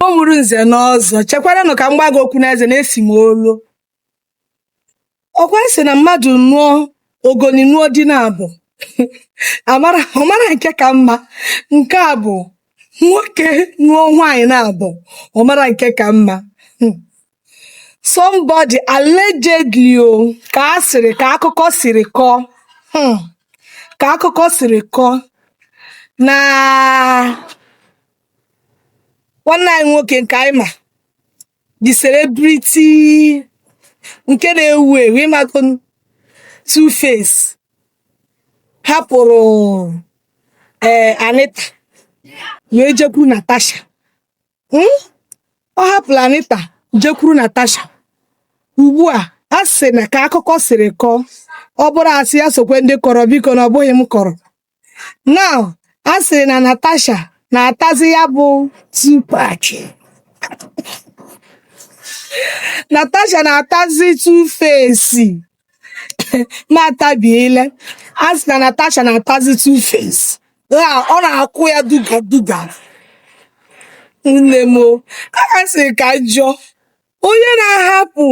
Ọ mụrụ nze na ọzọ, chekwaranụ ka m gwa gị okwu n'eze na-esi m olu. Ọ kwa a sị na mmadụ nụọ ogoli nụọ di naabọ a mara ọ mara nke ka mma nke a bụ nwoke nụọ nwaanyị naabọ ọ mara nke ka mma. Hmm. somebody allegedly ọ ka a sịrị ka akụkọ siri kọọ hmm, ka akụkọ siri kọọ na nwanne anyị nwoke nke anyị ma the celebrity nke na-ewu ewu ị mago two face hapụrụ ee eh, Anita wee jekwu Natasha Hmm? ọ hapụla Anita jekwuru Natasha ugbu a a sị na ka akụkọ siri kọọ ọ bụrụ asị ya sokwe ndị kọrọ biko na ọ bụghị m kọrọ now a sịrị na Natasha na-atazi ya bụ Tupac Natasha na-atazi Tuface na-atabi ile a sị na Natasha na-atazi two face na ọ na-akụ ya duga duga nne m o a sị ka m jụọ onye na-ahapụ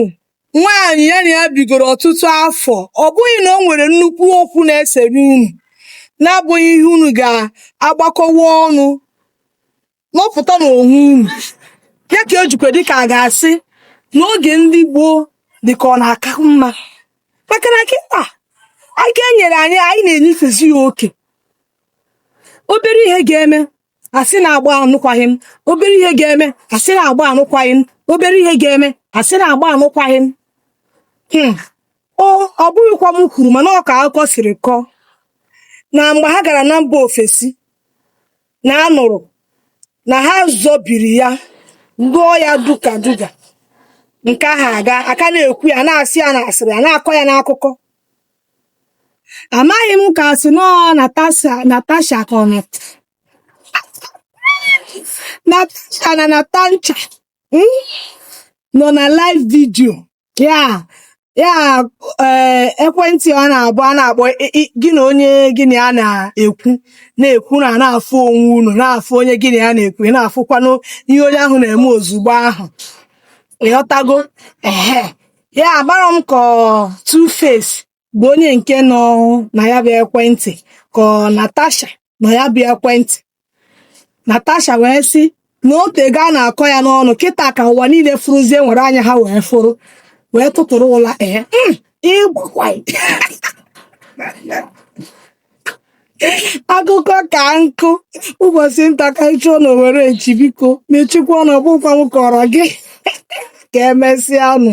nwaanyị ya na ya bigoro ọtụtụ afọ ọ bụghị na o nwere nnukwu okwu na-esere unu na-abụghị ihe unu ga-agbakọwa ọnụ nọpụta n'onwe unu ya ka ejikwa dịka a ga-asị n'oge ndị gboo dịka ọ na-aka mma maka na kịta aka e nyere anyị anyị na-enyefezi ya oke obere ihe ga-eme asị na-agba anụkwaghị m obere ihe ga-eme asị na-agba anụkwaghị m obere ihe ga-eme asị na-agba anụkwaghị m hmm. o ọ bụghịkwa m kwuru mana ọ ka akụkọ siri kọọ na mgbe ha gara na mba ofesi na a nụrụ na ha zọbiri ya lụọ ya duga duga nke ahụ a ga a ka na-ekwu ya a na-asị ya n'asịrị a na-akọ ya n'akụkọ amaghị m ka a sị na ọ natasha natasha ka ọ nọ- natasha na natancha mm, nọ na live video ya ya ee eh, ekwentị a na-abụ a na-akpọ gị na onye gị na ya na-ekwu na-ekwu na na-afụ onwe unu na-afụ onye gị na ya na-ekwu ị na-afụkwanụ ihe onye ahụ na-eme ozugbo ahụ ị ghọtago ehe ya agbara m ka two face bụ onye nke nọ na ya bụ ekwentị ka ọ Natasha nọ ya bụ ekwentị Natasha wee sị na otego a na-akọ ya n'ọnụ kịta ka ụwa niile fụrụzie nwere anya ha wee fụrụ wee tụtụrụ ụla ee hmm, ịkpakwa akụkọ ka nkụ ụbọchị nta ka ị chụọ na owere nchi biko mechikwa ọnụ ọ bụkwa m kọọrọ gị ka emesịa nụ